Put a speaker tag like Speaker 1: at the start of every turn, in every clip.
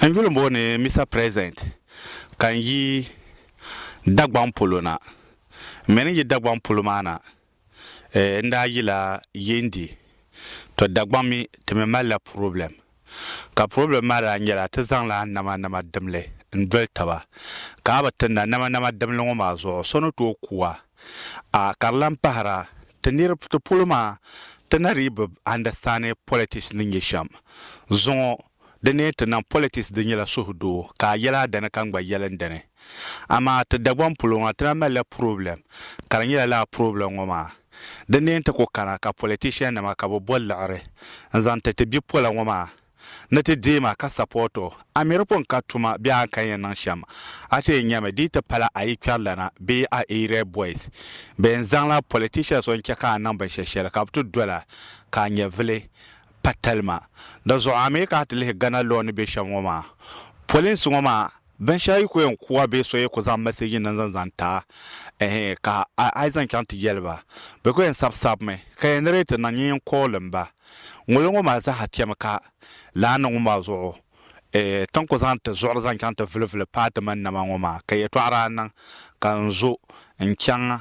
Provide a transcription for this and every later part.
Speaker 1: N yuli booni Mister President ka n yi Dagbaŋ polo na. M mi ni yi Dagbaŋ polo maa na, n daa yila Yendi. To Dagbaŋ mi ti mi malila problem. Ka problem maa daa nyɛla ti zaŋla nama nama dimli n doli taba. Ka a bi ti na nama nama dimli ŋɔ maa zuɣu so ni tooi ku a. a ka di lan pahira ti niriba ti polo maa ti na dii bi andastandi politics ni nyɛ shɛm zuŋɔ di ni ti niŋ politics di nyɛla suhudoo ka a yɛli a dani ka n gba yɛli n dini amaa ti Dagbaŋ polo ŋɔ ti na malila problem ka di nyɛla lala problem ŋɔ maa di ni ti ku kana ka politician nima ka bɛ bo liɣiri n zaŋ ti ti bipola ŋɔ maa Ni ti deei ma ka support o, a mi di pun ka tuma bee a ni kan yɛn niŋ shɛm. A ti yɛn nyami di yi ti pala a yi kpɛrilana bee a area boys bɛn zaŋla politicians o n-chɛ ka a niŋ binshɛli shɛli ka bɛ ti dol a ka a nyɛvili pa talima. Di zuɣu a mi ka a ti lihi Ghana law ni be shɛm ŋɔ maa, polinsi ŋɔ maa, Binshɛɣu yi ku yɛn ku a bee so yi ku zaŋ mɛseeji niŋ zaŋ zaŋ ti a ehe ka a yi zaŋ chaŋ ti jɛli ba, bɛ ku yɛn sabisabimi ka yɛn narrate niŋ nyin calling ba. Ŋuni ŋɔ maa zaaha chɛmi ka lahi niŋ ma zuɣu eeh ti ni ku zaŋ ti zuɣuri zaŋ chaŋ ti vulivuli paai ti mani nama ŋɔ maa ka yɛtɔɣa daa niŋ ka n zo n-chaŋ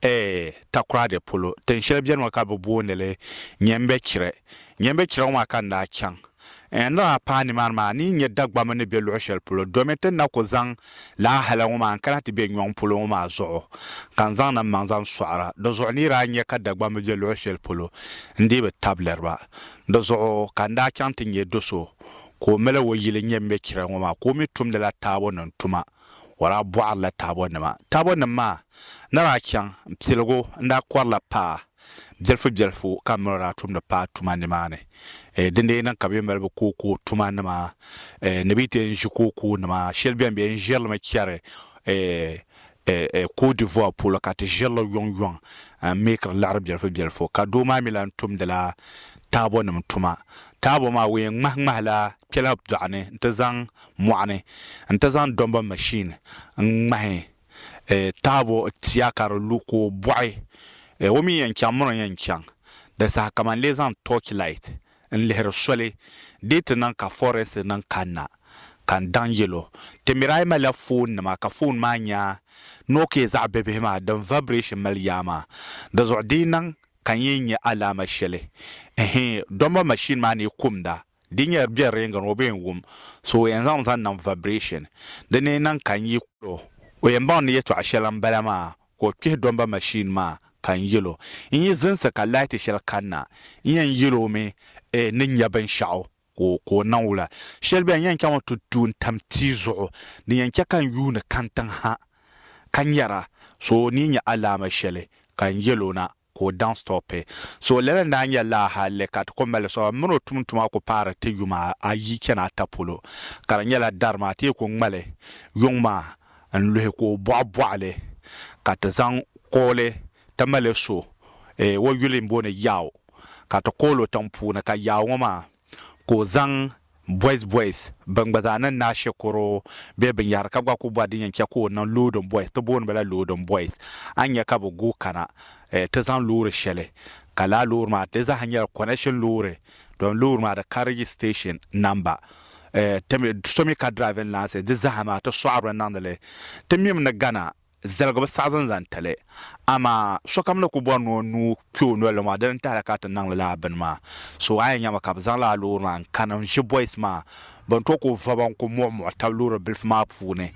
Speaker 1: Ee, Takoradi polo, tin shɛli beni ŋɔ ka bɛ booni li Nyɛmbɛchirɛ. Nyɛmbɛchirɛ ŋɔ maa ka n daa chaŋ. N ni daa paai nimaani maa, n ni yi nya Dagbamba ni be luɣ shɛli polo, domi ti ni na ku zaŋ la ahala ŋɔ maa n-kana ti be nyɔŋ polo ŋɔ maa zuɣu, ka n zaŋ nammaŋ zaŋ sɔɣira. Di zuɣu n ni yi daa nya ka Dagbamba be luɣ shɛli polo, n dii bi tablir ba. Di zuɣu ka n daa chaŋ ti nya do so ka o mali o yili Nyɛmbɛchirɛ ŋɔ maa ka o mi tumdila taabo nim tuma. o daa bɔhirila taabɔnima. Taabɔnim maa ni daa chaŋ piligu n-daa kɔrila paa bilifubilifu ka miri o daa tumdi paa tuma nimaani. Din daa yi niŋ ka bɛ yi mali bɛ kookoo tumanima ni bɛ yi ti yɛn ʒi kookoonima, shɛli beni bɛ yɛn ʒiri li mi chɛri Cote d'Ivoire polo ka ti ʒiri li yɔŋyɔŋ n-meekiri liɣiri bilifubilifu ka doo maa mi lahi tumdila taabɔnim tuma. Taabɔ maa o yɛn ŋmahiŋmahila kpɛla dɔɣu ni nti zaŋ mɔɣuni nti zaŋ dɔmba machine n ŋmahi taabo tia ka di lu ka o bɔɣi o mi yɛn chaŋ muni n yɛn chaŋ di saha ka man lee zaŋ torch light n lihiri soli dee ti niŋ ka forest niŋ kanna ka n daŋ yɛl o ti miri a yi malila phone nima ka phone maa nya Nokia zaɣ bibihi maa din vibration mali yaa maa di zuɣu di yi niŋ ka n yɛn nya alaama shɛli ɛhɛɛ dɔmba machine maa ni yi kumda Di nyɛla bɛ reeŋgi ni o bee n-wum so o yɛn zaŋ zaŋ niŋ vibration. Di ni niŋ ka n yi kul o, o yɛn baŋ ni yɛtɔɣ shɛli m-bala maa ka o kpihi dɔmba machine maa ka n yɛl o n yi zinsi ka laati shɛli kanna. N yɛn yɛl o mi eh ni nya binshɛɣu ka o niŋ wula. Shɛli bela n yɛn chaŋmi ti du n-tam tia zuɣu din yɛn chɛ ka n yuuni kani tiŋ ha ka nyara so o ni yi nya alaama shɛli ka n yɛl o na. ka o daŋ sitɔɔ pɛ. So lala n daa nyɛ laa halli ka ti kɔŋ mali sitɔɔ maa mini o tum tuma ku paari ti yuma ayi chani ata polo ka di nyɛla dari maa ti yi ku ŋmali yuŋ maa n luhi ka o bɔɣi bɔɣi li ka ti zaŋ kooli ti mali so o yuli n booni Yao ka ti kooli o tiŋ puuni ka Yao ŋɔ maa ka o zaŋ boys boys ban gba zaa niŋ naashɛ koro bɛ binyɛhiri ka gba kuli bɔri din yɛn chɛ ka o niŋ loading boys ti booni ba la loading boys a ni nya ka bɛ guui kana ti zaŋ loori shɛli ka lala loori maa di zaaha nyɛla connection loori domi loori maa di ka registration number so mi ka driving license di zaaha maa ti sɔɣiri li niŋdi li ti mimi ni gana zaligi bi saɣizi n-zaŋ ti li. Amaa sokam ni ku bɔri ni o nuu kpe o noli maa, dini n-tahi li ka ti niŋdi lala bini maa. So a yɛn nyami ka bɛ zaŋ lala loori maa n-kani n-ʒi boys maa bɛn tooi ku voba n-ku muɣimuɣi tab loori bilifu maa puuni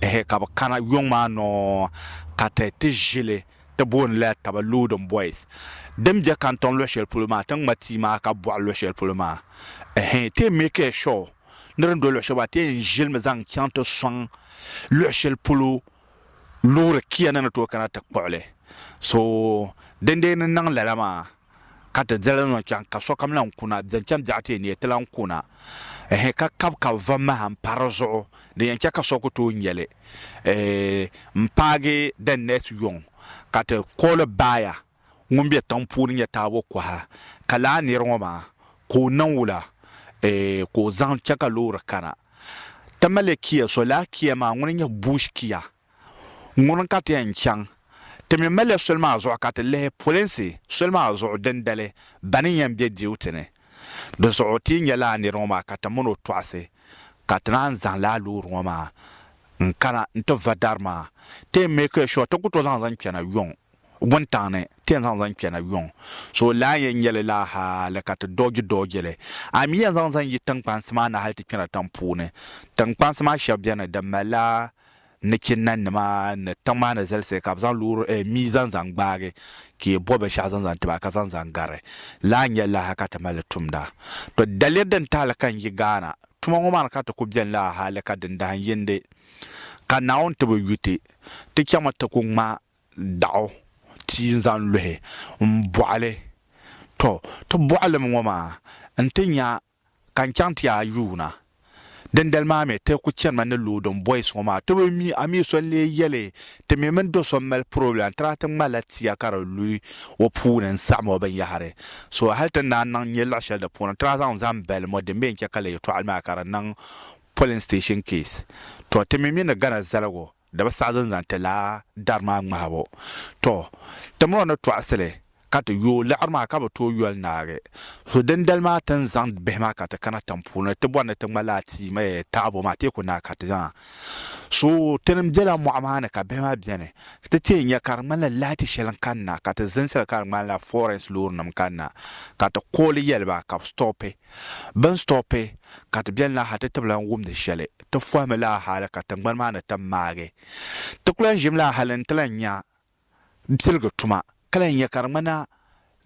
Speaker 1: ehe ka bɛ kana yuŋ maa nɔɔ ka ti ti ʒi li ti booni lala taba loading boys. Din be Kantɔŋ luɣishɛli polo maa ti ŋma tia maa ka bɔɣi luɣishɛli polo maa ehe ti yɛn make sure ni di ni do luɣ shɛli maa, ti yɛn ʒilimi zaŋ chaŋ ti sɔŋ luɣ shɛli polo loori kia ni ni tooi kana ti kpuɣi li. So dindee ni niŋ lala maa ka ti diri li niŋ chaŋ ka sokam lahi ku na, zaŋ chaŋ biɛɣu ti yi neei ti lahi ku na, ɛɛh, ka kabi kabi va maha m-pa di zuɣu, din yɛn chɛ ka so ku tooi nya li, ɛɛh, m-paagi the next yuŋ ka ti kooli baaya. ŋun be tiŋ puuni nyɛ taabo koha ka lahi niri ŋɔ maa ka o niŋ wula eeh ka o zaŋ che ka loori kana ti mali Kia so lala Kia maa ŋuni nyɛ bush Kia ŋuni ka ti yɛn chaŋ ti mi mali soli maa zuɣu ka ti lihi polinsi soli maa zuɣu dindali bani yɛn be duty ni di zuɣu ti yi nya lala niri ŋɔ maa ka ti mini o tɔɣisi ka ti naan zaŋ lala loori ŋɔ maa n kana n ti va dari maa ti yɛn make sure ti ku to zaŋ zaŋ kpɛna yuŋ wuntaŋ ni ti yɛn zaŋ zaŋ kpɛna yuŋ, so o lahi yɛn nyɛli laa hali ka ti doogi doogi li. A mi yɛn zaŋ zaŋ yi tiŋkpansi maa ni hali ti kpɛna tiŋ puuni. Tiŋkpansi maa shɛb beni din malila nachinanima ni tiŋ maa ni zalisi ka bɛ zaŋ loori eh, mii zaŋ zaŋ gbaagi ka yi bo binshɛɣu zaŋ zaŋ ti ba ka zaŋ zaŋ gari laa n-nyɛ laa ha ka ti mali tumda. To daliri din ti hali ka n-yi Ghana. Tuma ŋɔ maa ni ka ti ku beni laa hali ka dindahindindi ka Naawuni ti bi yu ti, ti chɛmi ti ku ŋma daɣu ti n zaŋ luhi n bɔɣili. Tɔ! Ti bɔɣilim ŋɔ maa nti nya ka n chaŋ ti a yuuna. Dindali maa mi ti ku chanimi ni loading boys ŋɔ maa ti bi mi a mi so n lee yeli ti mi mini do so n mali problem n tira ti ŋmalila tia ka di lu o puuni n saɣim o binyahiri. So hali ti naan niŋ nyɛ luɣ'sheli di puuni n tira zaŋ zani balim o din mi n che ka liyetɔɣili maa ka di niŋ polling station case. Tɔ! Ti mi mi ni Ghana zaligu Di bi saɣi zan-zan ti lahi dari maa ŋmahibu. Tɔ! Ti mi o ni tɔɣisi li, ka ti yo o liɣiri maa ka bi tooi yoli naagi. So dindali maa ti ni zaŋ bihi maa ka ti kana tiŋ puuni ti bɔri ni ti ŋma laa tia mi taɣibu maa, teeku naa ka ti zaŋ so o. Ti ni bela mɔɣu maa ni ka bihi maa beni, ti teei nya ka di ŋmanila laati shɛli n-kani na, ka ti zinsiri ka di ŋmanila forens loorinim n-kani na, ka ti kooli yɛli ba ka bi stɔpi. Bini stɔpi ka ti beni la ha ti tibila n wumdi shɛli ti fɔhimi la hali ka tingbani maa ni tam maagi. Ti ku lan ʒimi la hali nti lan nya piligi tuma ka lan nya ka di ŋmanila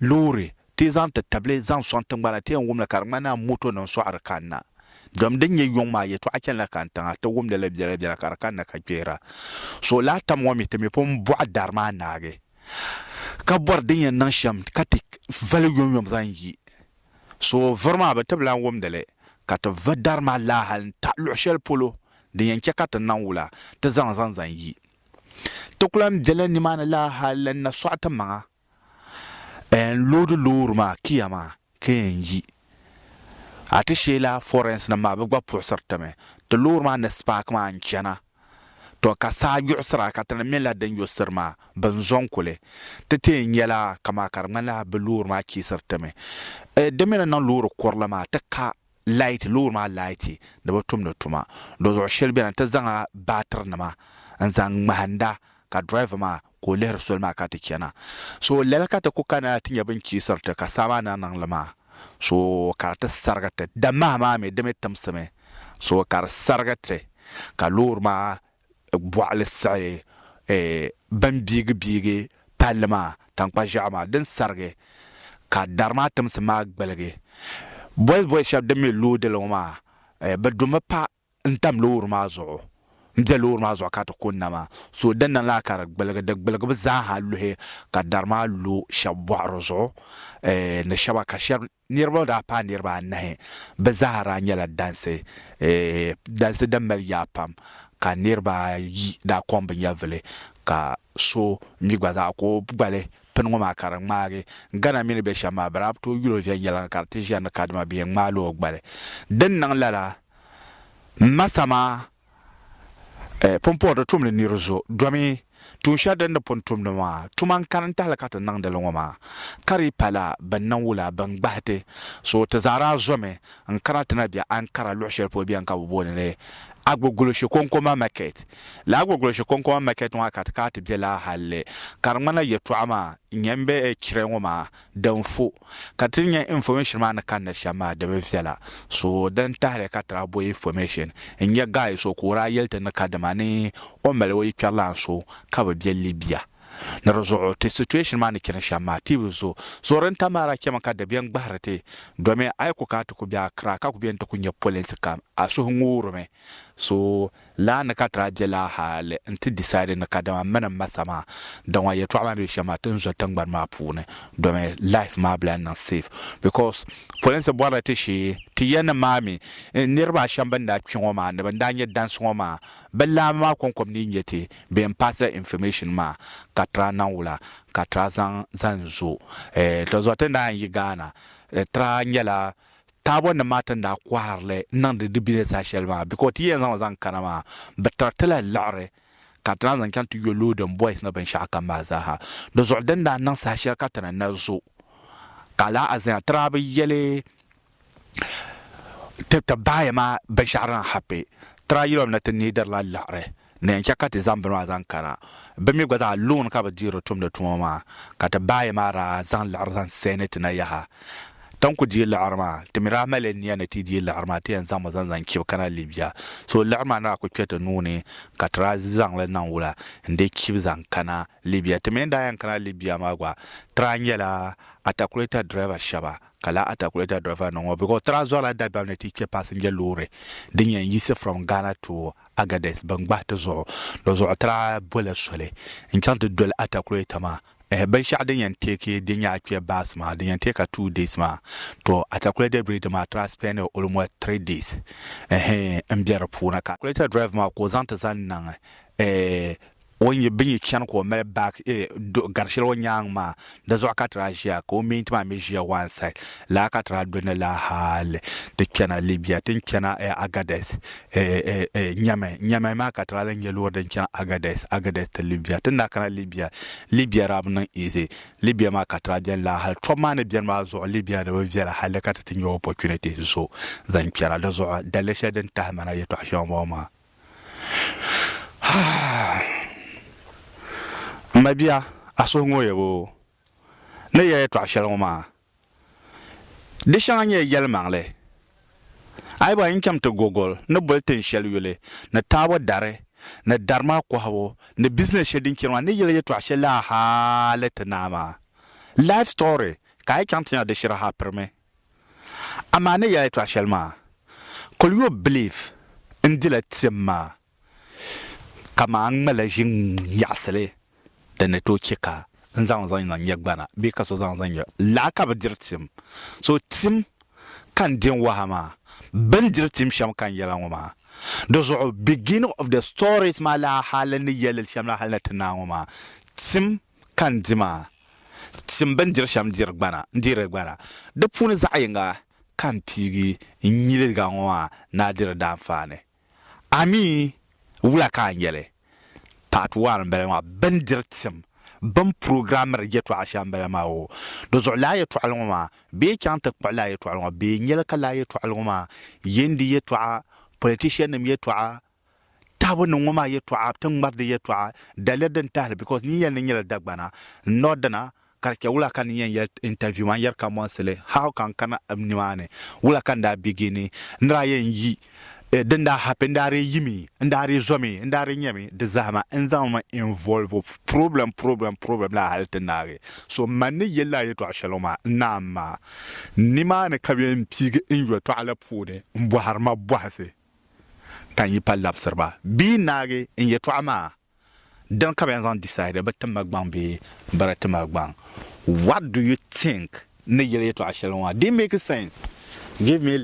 Speaker 1: loori ti yi zaŋ ti tabili zaŋ sɔŋ tingbana ti yɛn wumli ka di ŋmanila moto ni n-sɔɣiri kanna. Dɔm din nyɛ yuŋ maa yɛtɔɣa chanila kani tiŋa ti wumdi li biɛla biɛla ka di kanna ka kpihira. So lahi tam ŋɔ mi ti mi pun bɔɣi dari maa naagi ka bɔri din yɛn niŋ shɛm ka ti vali yomyom zaŋ yi So vuri maa bɛ tibila n-wumdi li, ka ti va dari maa laa hal n-taɣi luɣ shɛli polo din yɛn chɛ ka ti naŋ wula ti zaŋ zaŋ zaŋ yi. Ti ku lan bela nimaani laa hal lan na sɔɣi ti maŋa n loodi loori maa Kia maa ka yɛn yi. A ti sheei laa Forense nim maa bɛ gba puɣisiri ti mi. Ti loori maa ni spaaki maa n-chana. To ka saa gbiɣisira ka ti ni mila din yo siri maa, bɛ ni zɔŋ kuli. Ti tee nyɛla kamaa ka di ŋmanila bɛ loori maa chiisiri ti mi. Eh, di mi ni niŋ loori kurili maa ti ka laati, loori maa laati di bi tumdi tuma. Dɔzuɣu shɛli beni ti zaŋla baatirinima n-zaŋ ŋmahinda ka driver maa ka o lihiri soli maa ka ti chana. So lala ka ti ku kana ti nya bini chiisiri ti, ka saa maa ni niŋ li maa, so ka di ti sarigi ti. Damaha maa mi, di mi timsimi, so ka di sarigi ti, ka loori maa bɔɣili siɣi eh, bini biigi biigi palli maa, tankpa ʒiɛɣu maa, din sarigi, ka dari maa timsim maa gbiligi. Boys boys shɛba din mi loodi li ŋɔ maa, eh, bɛ du mi pahi. n tam loori maa zuɣu m be loori maa zuɣu ka ti kunna maa so di niŋ la ka di gbuligi di gbuligibu zaa ha luhi ka dari maa lo shɛba bɔɣiri zuɣu ni shɛba ka shɛba niriba daa paai niriba anahi bɛ zaa ha daa nyɛla dansi dansi din mali yaa pam ka niriba ayi daa kɔŋ bɛ nyɛvuli ka so mi gba zaa ka o gbali pini ŋɔ maa ka di ŋmaagi Ghana mi ni be shɛm maa bɛ daa bi tooi yuli o viɛnyɛliŋga ka di ti ʒiya ni kadama bɛ yɛn ŋmaai la o gbali din niŋ lala M ma sama eh, pun pɔri di tumdi nir zo domi tuun shɛli din ni pun tumdi maa tuma n kani n tahili ka ti niŋdi li ŋɔ maa ka di pala bɛn niŋ wula bɛn gbahi ti so ti zaa daa zomi n kana ti na bɛ Ankara luɣ shɛli polo bɛn ka bɛ booni li Agbogulishi Konkoma Market lala Agbogulishi Konkoma Market ŋɔ ka ti kana ti bɛ laa halli ka di ŋmanila yɛltɔɣa maa nyɛ m be chire ŋɔ maa Din fo ka ti nya information maa ni kanna shɛm maa di bi viɛla, so din tahili ka tira bo information. N nya guy so ka o daa yɛli ti ni kadama ni o mali o yikpɛrilaan so ka bɛ be Libya. Ni di zuɣu ti situation maa ni chani shɛm maa ti bi zo. Zuɣu din tam maa daa chɛmi ka di be n-gbahiri ti domi a yi ku kana ti ku be Accra ka ku be ni ti ku nya polinsi kam a suhu ŋuurimi. So Laa ni ka daa je laa hali n-ti decide ni kadama mini m ma sa maa, dama yɛtɔɣa maa ni be shɛm maa ti ni zo tiŋgbani maa puuni domi life maa bi lahi niŋ safe because polinsi bɔrila ti shee ti ya ni maa mi niriba a shɛm bɛn daa kpi ŋɔ maa ni bɛn daa nyɛ dansi ŋɔ maa bɛ laamba maa kɔŋkɔb ni nyɛ ti bee n pass la information maa ka tra niŋ wula ka tra zaŋ zan zo eh tɔ zuɣu ti ni daa yɛn yi Ghana tra nyɛla Taabo nim maa ti ni daa kɔhiri li niŋdi di bini saha shɛli maa bee ka o ti yɛn zaŋli zaŋ kana maa, bɛ tiri ti la liɣiri ka ti naan zaŋ chaŋ ti yo loading boys ni binshɛɣu kam maa zaa ha. Di zuɣu din daa niŋ saha shɛli ka ti ni na zo ka a lahi azanya ti daa bi yɛli ti ti baaya maa binshɛɣu din happy. Ti daa yɛli o mi ni ti neediri la liɣiri. Ni yɛn chɛ ka ti zaŋ bini maa zaŋ kana, bɛ mi gba zaa luŋ ni ka bɛ dii di tumdi tuma maa, ka ti baayi maa daa zaŋ liɣiri zaŋ sahi ni ti na yaha. Ti ni ku dii liɣiri maa, ti mi daa mali nia ni ti dii liɣiri maa, ti yɛn zaŋmi zaŋ zaŋ chibi kana Libya. So liɣiri maa ni daa ku kpe ti nuu ni, ka ti daa zaŋ li niŋ wula n-dii chibi zaŋ kana Libya. Ti mi ni daa yɛn kana Libya maa gba, ti daa nyɛla atakuleta dirɛva shɛba, ka lala atakuleta dirɛvanima ŋɔ, because ti daa zɔrila dabɛm ni ti kpe passenger loori din yɛn yiɣisi from Ghana to Agadez ban gbahi ti zuɣu lo zuɣu tira boli soli n-chaŋ ti doli atakuleta maa. Ehe, binshɛɣu din yɛn teeki din nyɛ akpia baasi maa, din yɛn teeki a two days maa, tɔ, atakuleta biredi maa tiri a spend almost three days ehe m-be di puuni ka. Atakuleta drive maa ka o zaŋ ti zaŋ niŋ eh O ni bi yi chani ka o mali back do gari shɛli o nyaaŋ maa, di zuɣu ka ti daa ʒiya, ka o mini ti maa mi ʒiya one side. Lala ka ti daa do ni la hali ti chana Libya, ti ni chana Agadez, Nyame. Nyame maa ka ti daa lan nya loori din chani Agadez, Agadez to Libya. Ti ni daa kana Libya, Libya daa bi niŋ easy. Libya maa ka ti daa beni la hali tɔbu maa ni beni maa zuɣu Libya di bi viɛla hali ka ti ti nya opportunity zo zaŋ kpɛra. Di zuɣu daliri shɛli din tahi ma na yɛtɔɣ shɛŋa m-bɔŋɔ maa. M ma bia, a suhu ŋooya boo ni ya yɛtɔɣ shɛli ŋɔ maa? Di shɛŋa nyɛla yɛlimaŋli. A yi bɔhi n chaŋ ti Gogol ni boli tin shɛli yuli ni taabo dari ni dari maa kɔhibu ni bizinɛs shɛli din chani maa ni yɛla yɛtɔɣ shɛli lala hali ti naa maa. Life story ka a yi chaŋ ti nya di shiri ha pirimi. Amaa ni yɛla yɛtɔɣ shɛli maa, kul yo bilifu n-dila tiɛm maa, kaman a ni ŋmalila ʒiŋ nyaɣisili din ni tooi chɛ ka n zaŋ li zaŋ niŋ nyɛgbana bee ka so zaŋ li zaŋ nyɛ laa ka bi diri tiɛm. So tiɛm ka n din waha maa, bɛ ni diri tiɛm shɛm ka n yɛla ŋɔ maa. Di zuɣu Beginning of the Stories maa lahi hali ni yɛli li shɛm la hal ni ti naai ŋɔ maa, tiɛm ka n di maa, tim bɛ ni diri shɛm diri gbana, n-diri gbana. Di puuni zaɣ yiŋga ka n piigi n nyiliga ŋɔ maa ni a diri daanfaani. A mi wula ka a nya li? Part One m-bala maa. Bɛ ni diri tim, bɛ ni programmiri yɛtɔɣa shɛm m-bala maa o. Di zuɣu lala yɛtɔɣili ŋɔ maa, bɛ yi chaŋ ti kpuɣi lala yɛtɔɣili ŋɔ, bɛ yi nya li ka lala yɛtɔɣili ŋɔ maa yɛn di yɛtɔɣa, politiciannim yɛtɔɣa, tahibu ni ŋɔ maa yɛtɔɣa ti ŋmari di yɛtɔɣa daliya din tahili because ni yɛli ni nyɛla Dagbana n not dina ka di chɛ wula ka ni yɛn yɛli interview maa n yɛri ka mɔnsili how ka n kana nimaani wula ka n daa begin n ni daa yɛn yi din daa happen n daa dii yimi n daa dii zomi n daa dii nyɛmi di zahima n zaŋmi involve problem problem problem laa hali ti naagi so man ni yɛli laa yɛtɔɣa shɛli maa n naan maa nimaani ka bɛ yɛn piigi n yɛtɔɣa la puuni n bɔhiri ma bɔhisi ka n yi pa labisiri ba bee n naagi n yɛtɔɣa maa, dini ka bɛ yɛn zaŋ decide bɛ tim ma gbaŋ bee bɛ di ti ma gbaŋ? What do you think ni yɛli yɛtɔɣa shɛli ŋɔ maa? Did it make sense? Give me.